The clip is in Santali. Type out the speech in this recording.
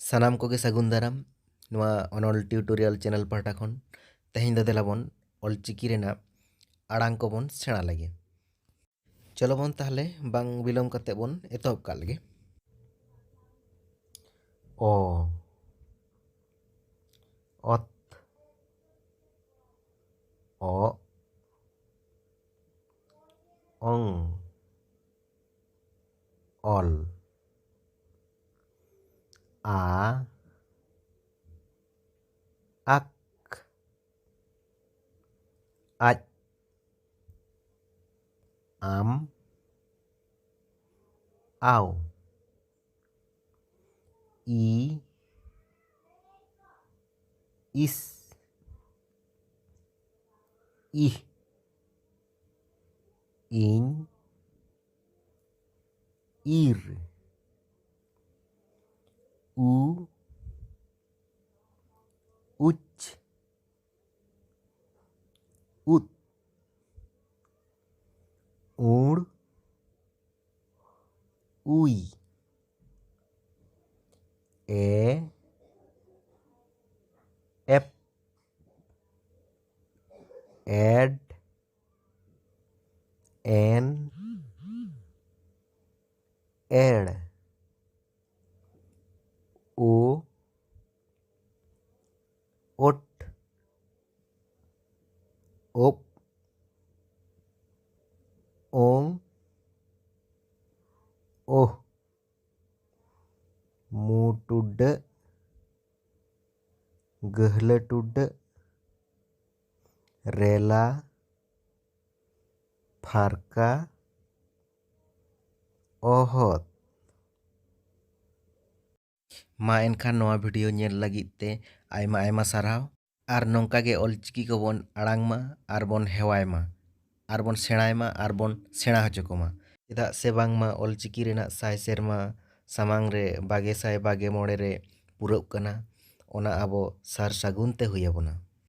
ᱥᱟᱱᱟᱢ ᱠᱚᱜᱮ ᱥᱟᱹᱜᱩᱱ ᱫᱟᱨᱟᱢ ᱱᱚᱣᱟ ᱚᱱᱚᱞ ᱴᱤᱭᱩᱴᱳᱨᱤᱭᱟᱞ ᱪᱮᱱᱮᱞ ᱯᱟᱦᱴᱟ ᱠᱷᱚᱱ ᱛᱮᱦᱮᱧ ᱫᱚ ᱫᱮᱞᱟ ᱵᱚᱱ ᱚᱞᱪᱤᱠᱤ ᱨᱮᱱᱟᱜ ᱟᱲᱟᱝ ᱠᱚᱵᱚᱱ ᱥᱮᱬᱟ ᱞᱮᱜᱮ ᱪᱚᱞᱚ ᱵᱚᱱ ᱛᱟᱦᱚᱞᱮ ᱵᱟᱝ ᱵᱤᱞᱚᱢ ᱠᱟᱛᱮ ᱵᱚᱱ ᱮᱛᱚᱦᱚᱵ ᱠᱟᱜ ᱞᱮᱜᱮ ᱚ ᱚᱛ ᱚ ᱚᱝ ᱚᱞ ᱟ ᱟᱠ ᱟᱡ ᱟᱢ ᱟᱣ ᱤ ᱤᱥ ᱤᱦ ᱤᱧ ᱤᱨ ᱩ ᱩᱪ ᱩᱫ ᱩᱲ ᱩᱭ ᱮ ᱮᱰ ᱮᱱ ᱮᱲ ᱳ ᱳᱴ ᱳᱯ ᱳᱝ ᱳᱦ ᱢᱩᱴᱩᱰᱟᱹᱜ ᱜᱟᱹᱦᱞᱟᱹ ᱴᱩᱰᱟᱹᱜ ᱨᱮᱞᱟ ᱯᱷᱟᱨᱠᱟ ᱚᱦᱚᱛ ᱢᱟ ᱮᱱᱠᱷᱟᱱ ᱱᱚᱣᱟ ᱵᱷᱤᱰᱤᱭᱳ ᱧᱮᱞ ᱞᱟᱹᱜᱤᱫ ᱛᱮ ᱟᱭᱢᱟ ᱟᱭᱢᱟ ᱥᱟᱨᱦᱟᱣ ᱟᱨ ᱱᱚᱝᱠᱟ ᱜᱮ ᱚᱞ ᱪᱤᱠᱤ ᱠᱚᱵᱚᱱ ᱟᱲᱟᱝ ᱢᱟ ᱟᱨ ᱵᱚᱱ ᱦᱮᱣᱟᱭ ᱢᱟ ᱟᱨ ᱵᱚᱱ ᱥᱮᱬᱟᱭ ᱢᱟ ᱟᱨ ᱵᱚᱱ ᱥᱮᱬᱟ ᱦᱚᱪᱚ ᱠᱚᱢᱟ ᱪᱮᱫᱟᱜ ᱥᱮ ᱵᱟᱝ ᱢᱟ ᱚᱞ ᱪᱤᱠᱤ ᱨᱮᱱᱟᱜ ᱥᱟᱭ ᱥᱮᱨᱢᱟ ᱥᱟᱢᱟᱝ ᱨᱮ ᱵᱟᱜᱮ ᱥᱟᱭ ᱵᱟᱜᱮ ᱢᱚᱬᱮ ᱨᱮ ᱯᱩᱨᱟᱹᱜ ᱠᱟᱱᱟ ᱚᱱᱟ ᱟᱵᱚ ᱥᱟᱨ ᱥᱟᱹᱜᱩᱱ ᱛᱮ ᱦᱩᱭ ᱟᱵᱚᱱᱟ